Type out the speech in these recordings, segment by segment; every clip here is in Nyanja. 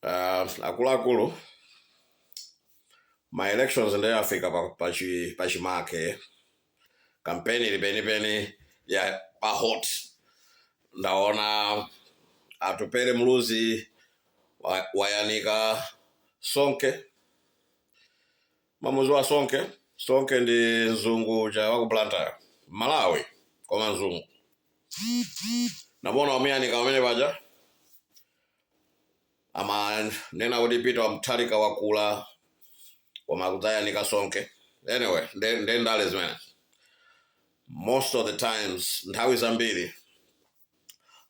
uh, akuluakulu ma elections ndiye afika pa, pa, chi, pa chimake kampeni ili penipeni ya pa hot ndaona atupele muluzi wa- wayanika sonke Mumamudziwa Sonke? Sonke ndi mzungu uja wa ku Blantyre. Malawi koma mzungu. Ndaona wamuyanika pamene paja. Amanena kuti Peter Mutharika wakula koma akudzayanika Sonke. Anyway, nde nde ndale zimene. Most of the times nthawi zambiri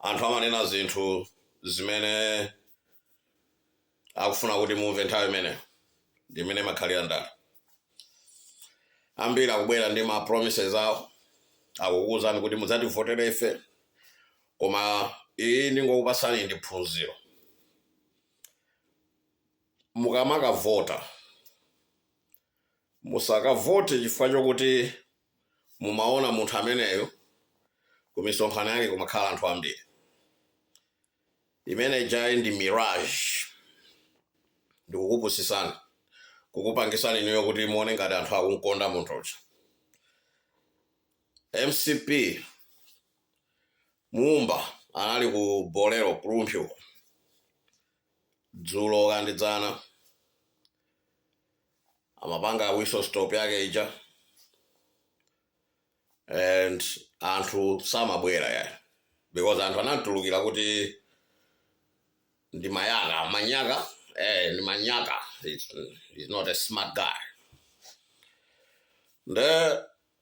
Anthu amanena zinthu zimene akufuna kuti mumve nthawi imeneyo ndi mmene imakhalira ndale ambiri akubwera ndi ma promises awo akukuwuzani kuti mudzativotere ife koma iyi ndingokupatsani ndi phunziro mukamakavota Musakavote chifukwa chokuti mumaona munthu ameneyo kumisonkhano yake kumakhala anthu ambiri. Imene ijayi ndi mirage, ndikukupusitsani, kukupangitsani inuyo kuti muone ngati anthu akumkonda munthu uja. MCP Mumba anali ku Bolero ku Rumphi uko. dzulo kaya ndi dzana amapanga whistle stop yake ija and anthu samabwera ya because anthu anamtulukira kuti ndi mayaka manyaka eh, ndi manyaka he's, he's not a smart guy nde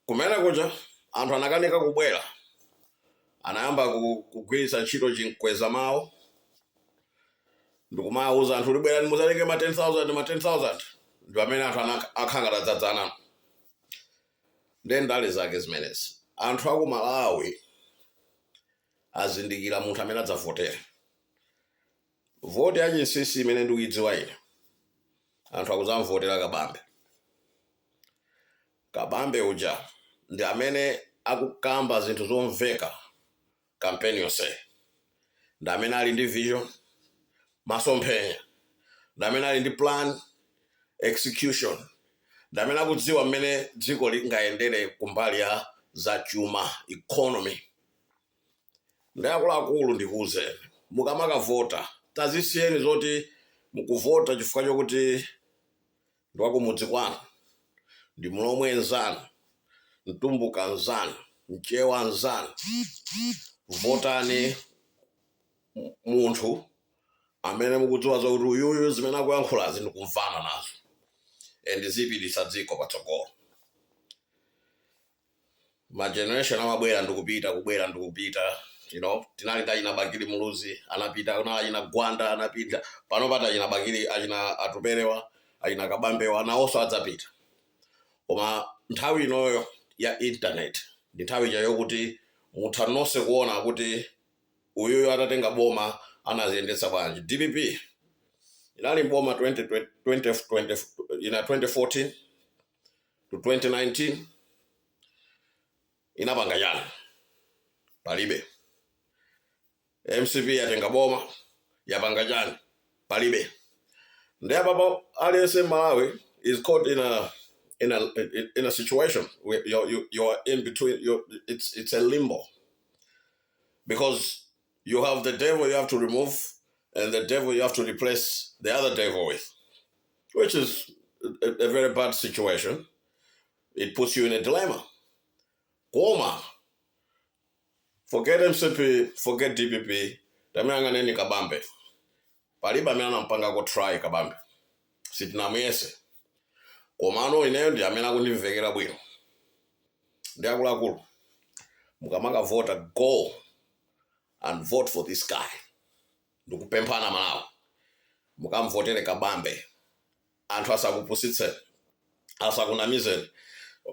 Kumene kuja anthu anakanika kubwera, anayamba kugwiritsa ntchito chimkwezamawu ndikumawauza anthu kuti bwerani muzatenge ma 10,000 ma 10,000 ndi pamene anthu akhala ngati adzadzana nde ndale zake zimenezi. Anthu aku Malawi azindikira munthu amene adzavotere. Voti ya chinsinsi imene ndikuidziwa ine anthu akuzamvotera Kabambe. Kabambe uja ndi amene akukamba zinthu zomveka campaign yonseyi. Ndi amene ali ndi vision, masomphenya. Ndi amene ali ndi plan, execution. Ndi amene akudziwa mmene dziko lingayendere kumbali ya zachuma, economy. Nde akuluakulu ndikuuzeni, mukamakavota tazisiyeni zoti mukuvota chifukwa chokuti ndi wa kumudzi kwanu, ndi mlomwe nzanu, mtumbuka nzanu, mchewa nzanu, votani munthu amene mukudziwa zakuti uyuyu zimene akuyankhulazi ndikumvana nazo and zipititsa dziko patsogolo ma generation amabwera ndikupita kubwera ndikupita you know tinali ndi achina bakili muluzi anapita kunali achina gwanda anapita pano pali achina bakili achina atupele awa achina kabambe awa nawonso adzapita koma nthawi inoyo ya internet ndi nthawi ija yokuti mutha nonse kuona kuti uyuyu atatenga boma anaziyendetsa bwanji dpp inali mboma 20, 20, 20, ina 2014 to 2019 inapanga chani palibe mcp yatenga boma yapanga chani palibe ndiye apapa aliyense malawi is caught in a in a in a situation where you you you are in between you it's it's a limbo because You have the devil you have to remove, and the devil you have to replace the other devil with, which is a, a very bad situation. It puts you in a dilemma. Koma, forget MCP, forget DPP, tamuyang'aneni kabambe. Palibe amene anampangako try kabambe. Sitinamuyese. Komano ineyo ndi amene akundimvekera bwino. Ndiye akuluakulu. Mukamakavota go and vote for this guy ndikupemphani amalawi mukamvotere kabambe anthu asakupusitseni asakunamizeni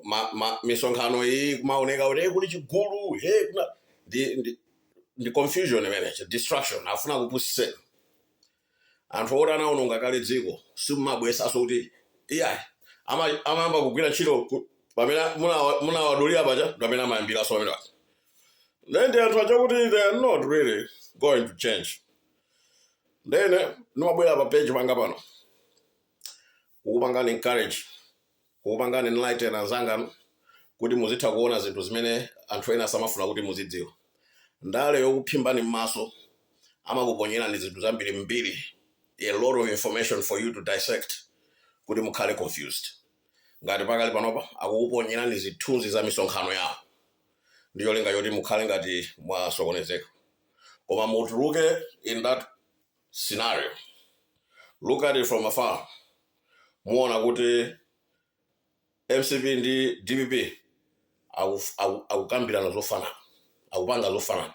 ma, ma, misonkhano iyi kumaoneka kuti "Eh, kuli chigulu hey, kuna ndi, ndi, ndi confusion imeneyo distraction afuna kupusitseni anthu oti anaononga kale dziko simumabwezanso kuti iyayi ama, amayamba kugwira ntchito ku- pamene munawa- munawadulira paja pamene amayambiranso pamene paja then ndi anthu aja kuti they are not really going to change then eh, ndimabwera pa page panga pano kukupangani encourage kukupangani enlighten anzanganu kuti muzitha kuona zinthu zimene anthu ena samafuna kuti muzidziwa. Ndale yokuphimbani m'maso, amakuponyerani zinthu zambiri mbiri, a lot of information for you to dissect kuti mukhale confused. Ngati pakali panopa akukuponyerani zithunzi za misonkhano yawo ndi cholinga choti mukhale ngati mwasokonezeka, koma mutuluke in that scenario look at it from afar muona kuti mcp ndi dpp akuf- aku- akukambirana zofanana akupanga zofanana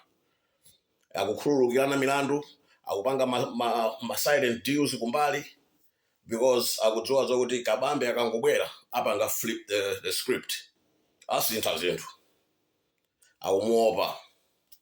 akukhululukirana milandu akupanga ma, ma, ma silent deals kumbali because akudziwa zokuti kabambe akangobwera apanga flip the, the script asintha zinthu akumuopa